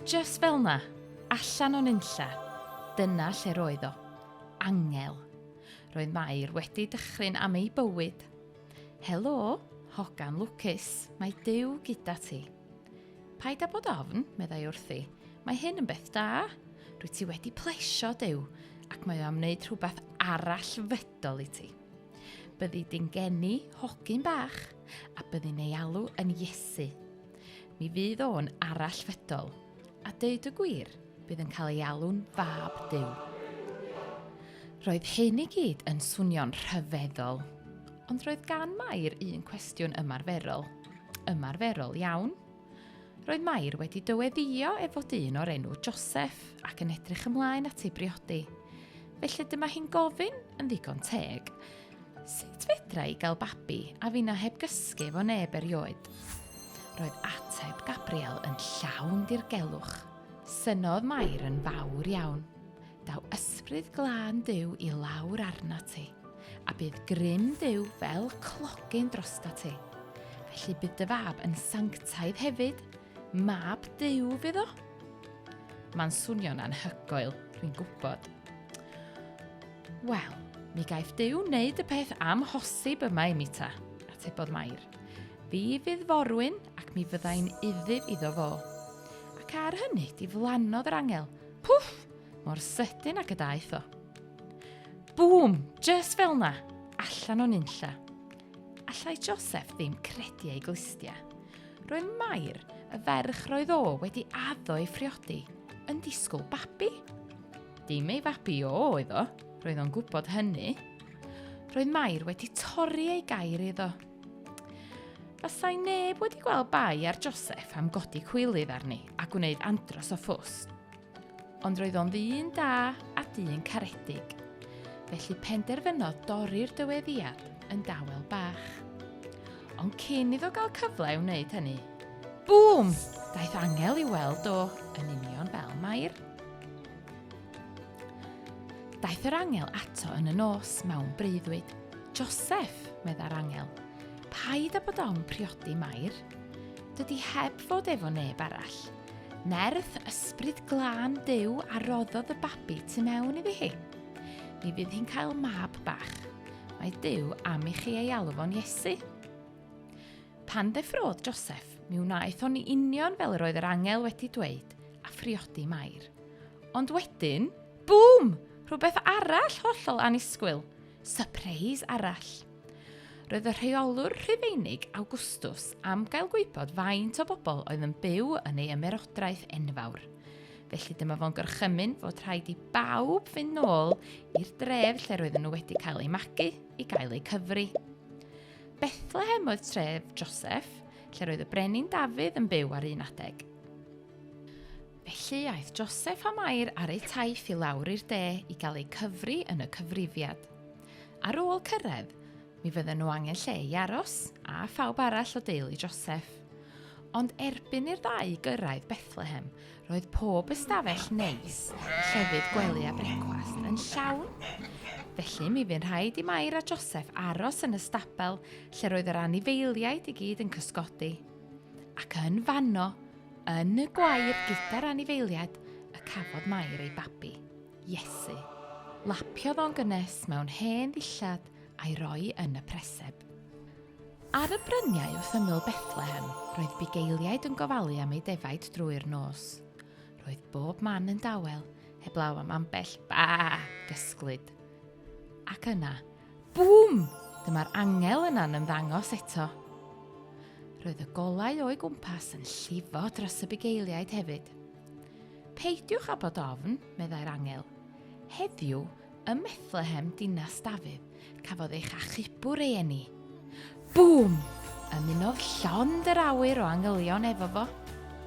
Just fel na, allan o'n unlla, dyna lle roedd o. Angel. Roedd Mair wedi dychryn am ei bywyd. Helo, hogan lwcus, mae Dyw gyda ti. Paid â bod ofn, meddai wrthi. Mae hyn yn beth da. Rwy ti wedi plesio Dyw, ac mae o am wneud rhywbeth arall fydol i ti. Byddi di'n geni hogyn bach, a byddi'n ei alw yn Iesu. Mi fydd o'n arall fedol, a deud y gwir, bydd yn cael ei alw'n fab Dyw. Roedd hyn i gyd yn swnio'n rhyfeddol, ond roedd gan Mair un cwestiwn ymarferol. Ymarferol iawn, Roedd Mair wedi dyweddio ef fod un o'r enw Joseph ac yn edrych ymlaen at ei briodi. Felly dyma hi'n gofyn, yn ddigon teg, sut fedra i gael babi a finna heb gysgu efo neb erioed? Roedd ateb Gabriel yn llawn dirgelwch. Synodd Mair yn fawr iawn. Daw ysbryd glân Duw i lawr arna ti, a bydd grym Duw fel clogyn drosta ti. Felly bydd dy fab yn sanctaidd hefyd, mab Duw fydd o. Mae'n swnio'n anhygoel, rwy'n gwybod. Wel, mi gaiff Duw wneud y peth amhosib yma i mi ta, atebodd Mair. Fi fydd forwyn ac mi fyddai'n uddif iddo fo. Ac ar hynny, diflannodd yr angel Pwff! Mor sydyn ac y daeth o. Bŵm! Just fel na! Allan o'n unlla. Allai Joseph ddim credu ei glustia. Roedd Mair, y ferch roedd o wedi addo ei phriodi, yn disgwyl babi. Dim ei fabi o oedd o, roedd o'n gwybod hynny. Roedd Mair wedi torri ei gair iddo. Fasai neb wedi gweld bai ar Joseph am godi cwylydd arni a gwneud andros o ffws. Ond roedd o'n ddyn da a dyn caredig, felly penderfynodd dorri'r dyweddiad yn dawel bach. Ond cyn iddo gael cyfle i wneud hynny, bŵm! Daeth angel i weld o yn union fel Mair. Daeth yr angel ato yn y nos mewn breuddwyd. Joseph, meddai'r angel, paid â bod ofn priodi Mair. Dydy heb fod efo neb arall. Nerth ysbryd glân Duw a roddodd y babi tu mewn iddi hi. Mi fydd hi'n cael mab bach. Mae Duw am i chi ei alw fo'n Iesu. Pan ddeffrodd Joseph, mi wnaeth o'n union fel yr oedd yr angel wedi dweud, a phriodi Mair. Ond wedyn, bŵm! Rhywbeth arall hollol anisgwyl. Surprise arall. Roedd y rheolwr Rhufeinig Awgwstws am gael gwybod faint o bobl oedd yn byw yn ei ymerodraeth enfawr. Felly dyma fo'n gorchymyn fod rhaid i bawb fynd nôl i'r dref lle roedden nhw wedi cael eu magu i gael eu cyfri. Bethlehem oedd tref Joseph, lle roedd y brenin Dafydd yn byw ar un adeg. Felly aeth Joseph a Mair ar eu taith i lawr i'r de i gael eu cyfri yn y cyfrifiad. Ar ôl cyrraedd, mi fydden nhw angen lle i aros a phawb arall o deulu Joseph. Ond erbyn i'r ddau gyrraedd Bethlehem, roedd pob ystafell neis, llefydd gwely a brecwast yn llawn. Felly mi fy'n rhaid i Mair a Joseph aros yn y stabel lle roedd yr anifeiliaid i gyd yn cysgodi. Ac yn fanno, Yn y gwair gyda'r anifeiliad y cafodd Mair ei babi, Iesu. Lapiodd o'n gynnes mewn hen ddillad a'i roi yn y preseb. Ar y bryniau wrth ymyl Bethlehem, roedd bugeiliaid yn gofalu am ei defaid drwy'r nos. Roedd bob man yn dawel, heblaw am ambell ba gysglyd. Ac yna, Bŵm! Dyma'r angel yna'n ymddangos eto. Roedd y golau o'i gwmpas yn llifo dros y bugeiliaid hefyd. Peidiwch â bod ofn, meddai'r angel. Heddiw, ym Methlehem, dinas Dafydd, cafodd eich achubwr ei eni. Bûm! Ymunodd llond yr awyr o angylion efo fo,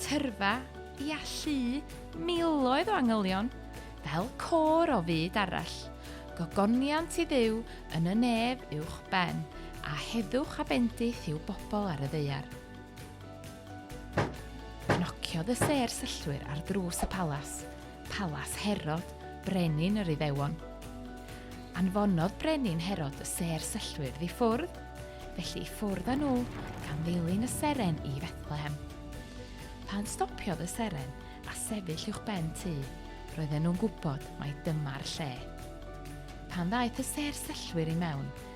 tyrfa, ia, llu, miloedd o angylion, fel côr o fyd arall. Gogoniant i Dduw yn y nef uwch ben, a heddwch a bendith i'w bobl ar y ddaear. Nociodd y sêr syllwyr ar ddrws y palas. Palas Herod, Brenin yr Iddewon. Anfonodd Brenin Herod y sêr syllwyr i ffwrdd, felly i ffwrdd â nhw gan ddilyn y seren i Fethlehem. Pan stopiodd y seren a sefyll uwch ben tŷ, roedden nhw'n gwybod mai dyma'r lle. Pan ddaeth y sêr syllwyr i mewn,